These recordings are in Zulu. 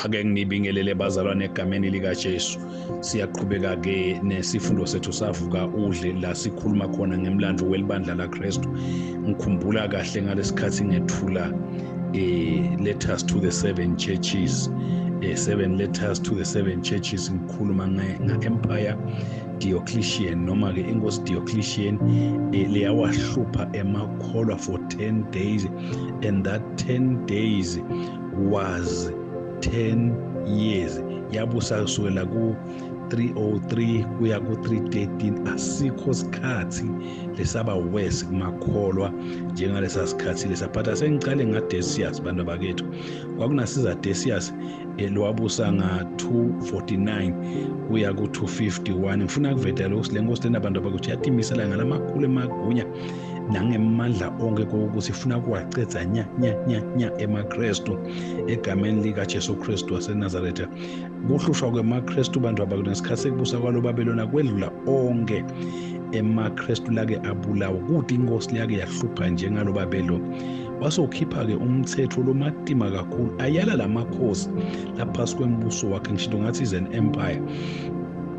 ake nginibingelele bazalwane egameni likaJesu siyaqhubeka ke nesifundo sethu savuka udle la sikhuluma khona ngemlando welibandla laKristu ngikhumbula kahle ngalesikhathi ngethula eh letters to the seven churches eh seven letters to the seven churches ngikhuluma nge-empire Diocletian noma ke inkosi Diocletian eh, leyawahlupha emakholwa for 10 days and that 10 days was 10 years yabusa kusukela ku 303 kuya ku 313 asikho sikhathi lesaba worse kumakholwa njengalesa sikhathi lesa but asengicale nga Decius bantu bakethu kwakunasiza Decius elwabusa nga 249 kuya ku 251 ngifuna kuvetela ukuthi lenkosi lena bantu bakuthi yatimisela ngalamakhulu emagunya nangemandla onke koku sifuna kuwacedza nya nya nya nya emakristu egameni likajesu kristu wasenazaretha kuhlushwa kwemakristu bantu abakunesikhathi sekubusa kwalo babelona kwedlula onke emakristu lake abulawa kude inkosi liyake yahlupha njengalo babelo wasokhipha-ke umthetho lomatima kakhulu ayala la makhosi laphasi kwembuso wakhe ngisho ngathi is an empire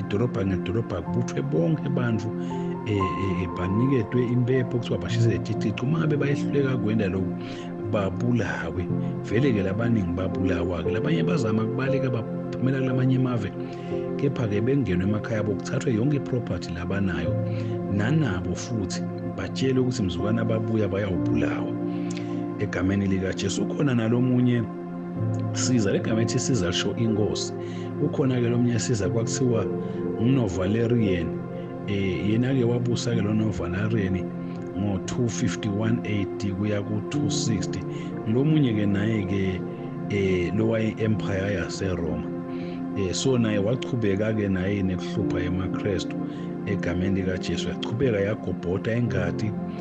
idolobha ngedolobha kubuthwe bonke abantu eh, eh, eh, baniketwe impepho kuthiwa bashise leticici uma ngabe bayehluleka kwenda lokhu babulawe vele-ke labaningi babulawa-ke labanye bazama kubaleka baphumela kulamanye emave kepha-ke bengenwe emakhaya abo kuthathwe yonke iproperty labanayo nanabo futhi batshelwe ukuthi mzukwana babuya bayawubulawa egameni likajesu ukhona nalomunye siza legama ethi siza lisho inkosi ukhona-ke lo mnye siza kwakuthiwa ngunovalerian um eh, yena-ke wabusa-ke lo novalerian ngo-251 AD kuya ku-260 lomunye-ke naye-ke eh lowayi-empire yaseroma eh so naye wachubeka-ke naye nekuhlupha emaKristu egameni likaJesu yachubeka yagobhoda ingadi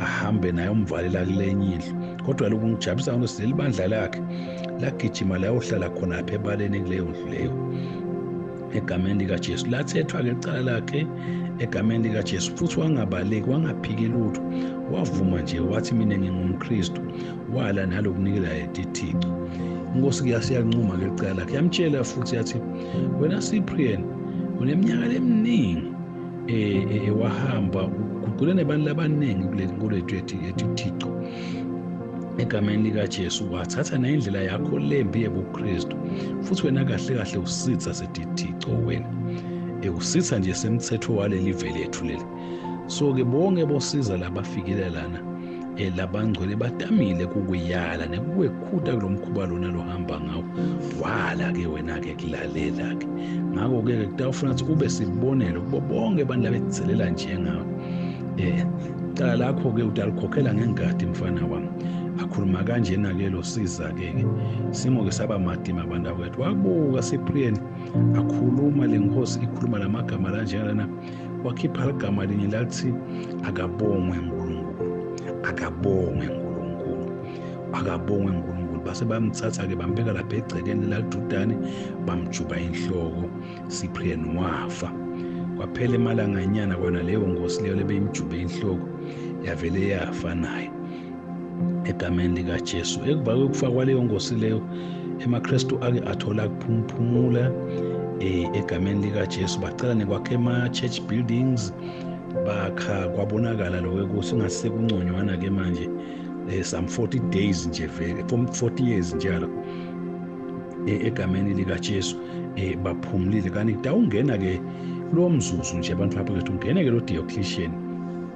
ahambe naye umvalela kulenye indlu kodwa lokhu ngijabulisa ngokuthi leli bandla lakhe lagijima layohlala khonapha ebaleni kuleyo ndlu leyo egameni likaJesu lathethwa ke icala lakhe egameni likaJesu futhi wangabaleki wangaphiki lutho wavuma nje wathi mina ngingumKristu wala nalokunikela yetithixo inkosi kuyasiyancuma ke licala lakhe yamtshela futhi yathi wena Cyprian uneminyaka leminingi um wahamba uguqule nebantu labaningi kuleli nkolo yethu ethi uthixo egameni likaJesu wathatha nendlela yakho lembi ebuKristu futhi wena kahle kahle usitha sedithixo wena ekusitha nje semthetho waleli vele ethu leli so ke bonke bosiza labafikile lana elabangcwele batamile kukuyala nekukwekhuta kulo mkhuba lona lohamba ngawo wala ke wena-ke kulalela-ke ngakho-ke ke kutawufuna ukuthi ube sibonelo kubo bonke abantu labekuzelela njengawe eh cala lakho ke utalikhokhela ngengadi mfana wami akhuluma kanjena ke lo siza ke ke simo ke saba madima abantu akwethu wabuka sipriyeni akhuluma lenkosi ikhuluma lamagama lanjena lana wakhipha igama linye lathi akabongwe nkulunkulu akabongwe nkulunkulu akabongwe nkulunkulu base bamthatha-ke bambeka lapha egcekeni lalidudane bamjuba inhloko siprian wafa kwaphela emalanganyana kona leyo ngosi leyo lebeyimjube inhloko yavele yafa naye egameni likaJesu ekuva kokufa kwaleyo nkosi leyo emaKristu ake athola kuphumphumula eh, egameni likaJesu bacela nekwakha ema-church buildings bakha kwabonakala lokho ukuthi ungasekunconywana-ke manje eh, some 40 days nje vele 40 years njalo eh, egameni likaJesu eh baphumulile kanti kudawungena ke kulo mzuzu nje abantu bapho ukuthi ungene ke lo Diocletian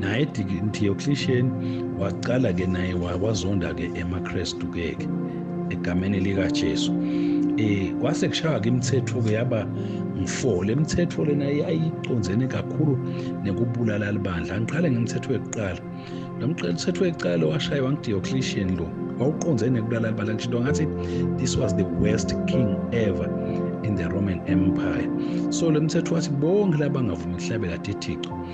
naye diocletian waqala ke naye wazonda ke emakrestu keke egameni likajesu eh kwase kushaya ke imithetho ke yaba ngifola imithetho lena yayiconzene kakhulu nekubulala libandla ngiqale ngemithetho yokuqala lo mthetho wokuqala washaywa ngidiocletian lo wawuqonzene nekubulala libandla ngisho ngathi this was the worst king ever in the roman empire so le mthetho wathi bonke labangavumi ukuhlabela thethixo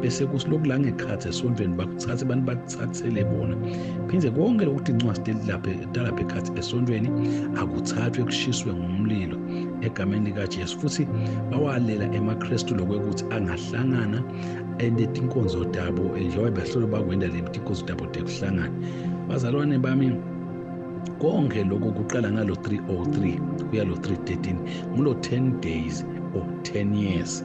bese kusilokhu la ngekhathi esontweni bakuthathe abantu bakuthathele bona phinde konke lokuthi incwadi telilaphe talapha ekhathi esontweni akuthathwe kushiswe ngomlilo egameni likaJesu futhi bawalela emaKristu lokwekuthi angahlangana enetinkonzo tabo njengoba behlolo bakwenda le tinkonzo tabo tekuhlangana bazalwane bami konke lokho kuqala ngalo 303 kuya lo 313 ngulo 10 days or 10 years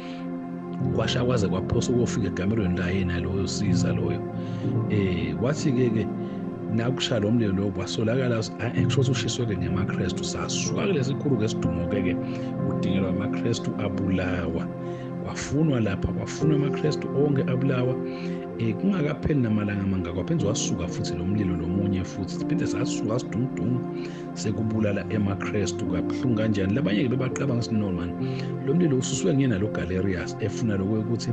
kwasha kwaze kwaphosa ukofika egamelweni la yena loyo siza loyo eh wathi ke ke nakusha lo mlilo lo kwasolakala kusho ukuthi ushiswe-ke ngemakrestu sasuka kulesi khulu ngesidumo-ke-ke kudingelwa amakrestu abulawa kwafunwa lapha kwafunwa amakrestu onke abulawa um kungakapheli namalanga amangaka waphenze wasuka futhi lo mlilo lomunye futhi siphinde sasuka sidumdumu sekubulala emakrestu kabuhlungu kanjani labanye-ke bebaqabanga ukuthi no mani lo mlilo ususwe nguyena lo galerius efuna lokho ukuthi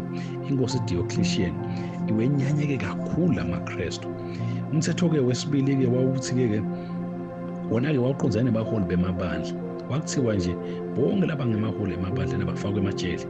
inkosi diocletian iwenyanyeke kakhulu la makrestu umthetho-ke wesibili-ke wawuthi-ke-ke wona-ke wawuqondzane nebaholi bemabandla kwakuthiwa nje bonke laba ngemaholi emabandleni abafakwe emajele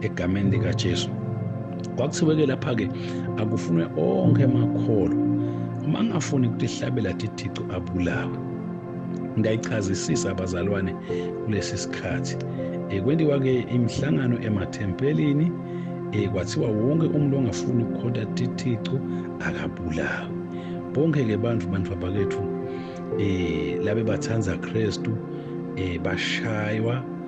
egameni likaJesu kwakuthiwe-ke lapha-ke akufunwe onke amakholo uma angafuni ukuthi ihlabela thithixo abulawe ngiyayichazisisa abazalwane kulesi sikhathi um kwendiwa-ke imihlangano emathempelini um kwathiwa wonke umuntu ongafuni ukukhonta thithixo akabulawe bonke-ke bantu bantu babakethu um labe bathanda kristu um bashaywa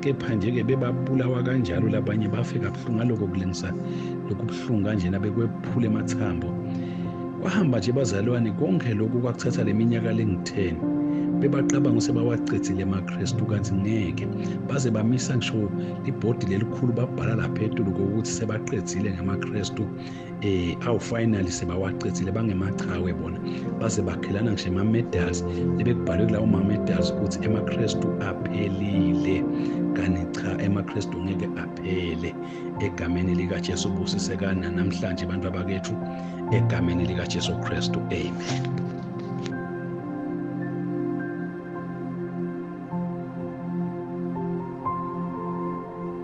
kepha nje-ke bebabulawa kanjalo labanye bafe kabuhlungu ngaloko kulingisa lokhu buhlungu kanjena bekwephula emathambo kwahamba nje bazalwane konke lokhu kwakuthatha le minyaka lengu-10 bebacabanga usebawacedzile emakristu kanti ngeke baze bamisa ngisho libhodi lelikhulu babhala lapha etulu kokuthi sebaqedzile ngamakristu eh awu finally sebawacethile bangemachawe bona base bakhelana ngisho ama medals ebekubhalwe kulawo ma medals ukuthi emaKristu aphelile kanti cha emaKristu ngeke aphele egameni lika Jesu busisekana namhlanje abantu abakethu egameni lika Jesu Kristu amen